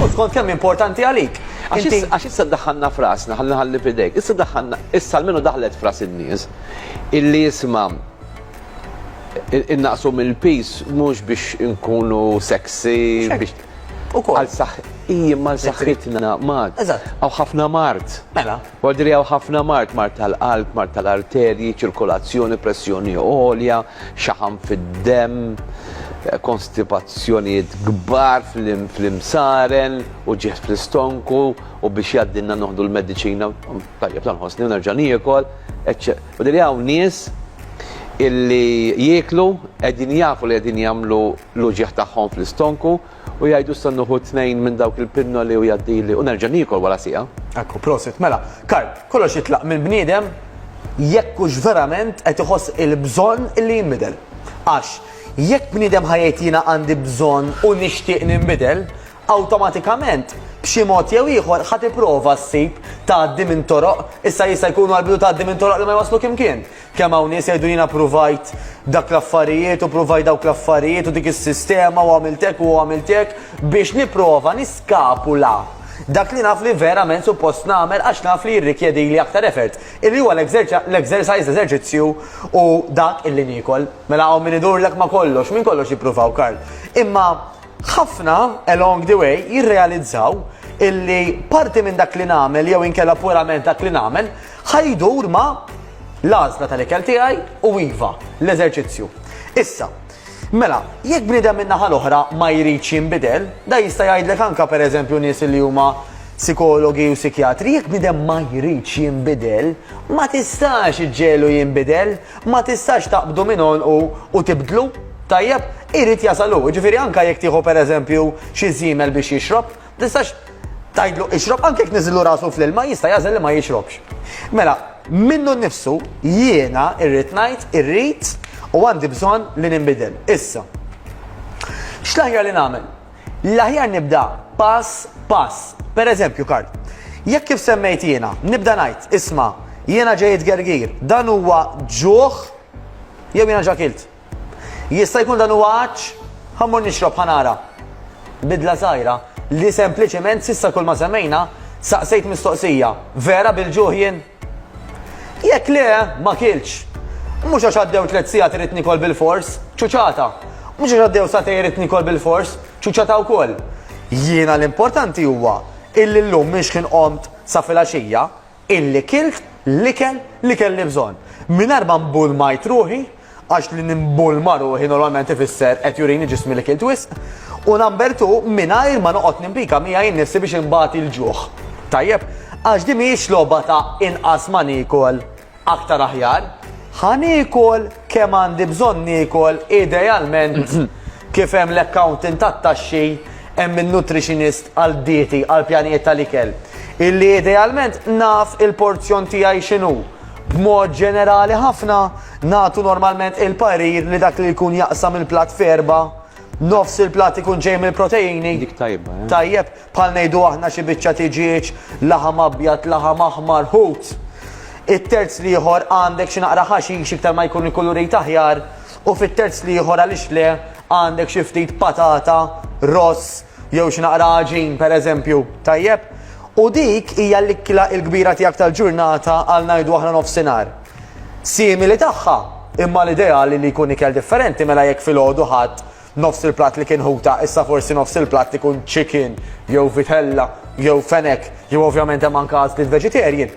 U skont kemm importanti għalik. Għax issa daħħanna frasna, ħalli ħalli fidejk, issa daħħanna, issa almenu daħlet fras in-nies illi jisma' innaqsu mill-pis mhux biex inkunu sexy biex għal saħħi mal saħħitna mat. Għaw ħafna mart. Mela. Mordi li hawn ħafna mard, mard tal-qalb, mard tal-arterji, ċirkolazzjoni, pressjoni għolja, xaħam fid-demm, konstipazzjonijiet kbar fl-imsaren, uġigħ fl-istonku u biex jgħaddilna noħdu l-mediċina, tajjeb la nħossni u nerġa' niekol, eċċe. Mordi li hawn nies illi jieklu qegħdin jafu li qegħdin jagħmlu l-uġigħ tagħhom fl-istonku, U jgħidu issa nieħu tnejn minn dawk il-pinnoli u jgħaddili u nerġa' niekol wara siegħa. Ekku, prosit. Mela, Karp, kollox jitlaq mill-bniedem jekk hux verament qed iħoss il-bżonn li jinbidel. Għax, jekk bniedem ħa jgħid jiena għandi bżonn u nixtieq ninbidel, awtomatikament, b'xi mod jew ieħor ħa tipprova ssib tgħaddi minn toroq, issa jista' jkunu għall-bidu tgħaddi minn toroq li ma jwasslu kimkien. Kemm hawn nies jgħidu jiena pruvajt dak l-affarijiet u pruvajt dawk l-affarijiet u dik is-sistema u għamilt hekk u għamilt hekk biex nipprova niskapula dak li naf li verament suppost nagħmel għax naf li jirrikjedili aktar effort, illi huwa l-exercise, l-eżerċizzju u dak illi niekol. Mela hawn min idurlek ma' kollox, minn kollox jippruvaw, Karl. Imma ħafna along the way jirrealizzaw illi parti minn dak li nagħmel jew inkella purament dak li nagħmel ħa jdur ma' L-għażla tal-ikel tiegħi hu iva, l-eżerċizzju. Issa, mela, jekk bniedem min-naħa l-oħra ma jridx jinbidel, dan jista' jgħidlek anke pereżempju nies li huma sikologi u sikjatri, jekk bniedem ma jridx jinbidel, ma tistax iġġiegħlu jinbidel, ma tistax taqbdu minn għonqu u tibdlu. Tajjeb, irid jasal hu. Jiġifieri anke jekk tieħu pereżempju xi żiemel biex jixrob, Tistax tgħidlu ixrob anke jekk niżillu rasu fl-ilma jista' jagħżel li ma jixrobx. Mela, minnu nnifsu jiena irrid ngħid irrid u għandi bżonn li ninbidel. Issa. X'l-aħjar li nagħmel? L-aħjar nibda pass pass. Per eżempju, Karl, jekk kif semmejt jiena, nibda ngħid, isma, jiena ġejt gergir, dan huwa ġuħ jew jiena ġakilt. Jista' jkun dan huwa għatx? Ħa mmur nixrob ħa nara. Bidla żgħira, li sempliċement s'issa kull ma semmejna, saqsejt mistoqsija, Vera bil-ġuħ jien? Jekk le, ma kiltx. Mhux għax għaddew tliet sigħat irrid nikol bilfors, ċuċata. Mhux għax għaddew sagħtejn irrid nikol bilfors, ċuċata wkoll. Jiena l-importanti huwa illi llum minn xħin qomt sa filgħaxija, Illi kilt l-ikel li kelli bżonn. Mingħajr ma mbulmajt ruħi, għax li nimbulma ruħi normalment ifisser qed jurini ġismi li kilt wisq, u number two, mingħajr ma noqgħod nimpika miegħi nnifsi biex inbati l-ġuħ. Tajjeb? Għax din mhijiex logħba ta' inqas ma niekol, aktar aħjar. Ħa niekol kemm għandi bżonn niekol idealment kif hemm l-accountant tat-taxxi Hemm in-nutritionist għal dieti għal pjanijiet tal-ikel illi idealment naf il-porzjon tiegħi x'inhu. B'mod ġenerali ħafna, nagħtu normalment il-parir li dak li jkun jaqsam il-platt f'erbgħa, nofs il-platt ikun ġej mill-proteini, Dik tajba, eh? tajjeb, bħal ngħidu aħna xi biċċa tiġieġ, laħam abjad, laħam aħmar, ħut. It-terz l-ieħor għandek xi naqra ħaxix iktar ma jkun il-kulurit aħjar, U fit-terz l-ieħor għaliex le għandek xi ftit patata, ross, jew xi naqra għaġin pereżempju, tajjeb? U dik hija l-ikla l-kbira tiegħek tal-ġurnata għal ngħidu aħna nofsinhar. Simili tagħha, imma l-ideali li jkun ikel differenti mela jekk filgħodu ħadd nofs il-platt li kien ħuta, issa forsi nofs il-platt ikun chicken, jew vitella, jew fenek, jew ovvjament hemm anke għażliet vegetarian.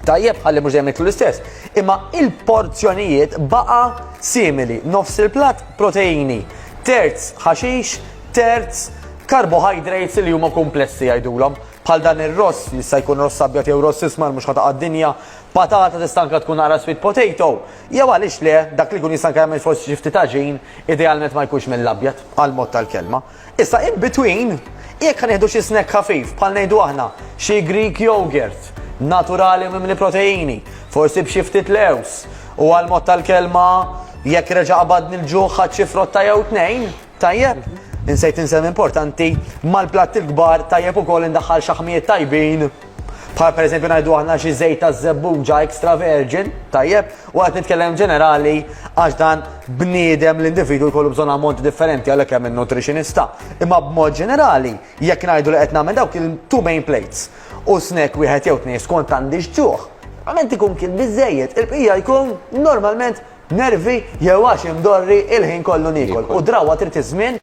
Tajjeb ħalli mhux dejjem niklu l-istess, imma il-porzjonijiet baqa' simili, nofs il-platt proteini, terz ħaxix, terz carbohydrates li huma kumplessi jgħidulhom, bħal dan ir-ross jista' jkun ross abjad jew ross ismar mhux ħataqa' d-dinja, patata tista' anke tkun naqra sweet potato, jew għaliex le, dak li jkun jista' anke jagħmel forsi xi ftit għaġin, idealment ma jkunx mill-abjad, għall-mod tal-kelma. Issa in between, jekk ħa nieħdu xi snack ħafif bħal ngħidu aħna xi Greek yogurt, naturali u mimli proteini, forsi b'xi ftit lewż, u għal mod tal-kelma, jekk reġa' qabadni l-ġuħ ħadt xi frotta jew tnejn, tajjeb? Insejt insemmi importanti, mal-platti l-kbar tajjeb ukoll indaħħal xaħmijiet tajbin. Bħal per eżempju ngħidu aħna xi żejt ta' żebbuġa extra virgin, tajjeb, u qed nitkellem ġenerali għax dan bniedem l-individu jkollu bżonn ammonti differenti għalhekk hemm in-nutritionista. Imma b'mod ġenerali, jekk ngħidu li qed nagħmel dawk il-two main plates u snack wieħed jew tnejn skont għandi x'ġuħ, normalment ikun kien biżejjed, il-bqija jkun normalment nervi jew għax imdorri il-ħin kollu niekol u drawa trid iż-żmien.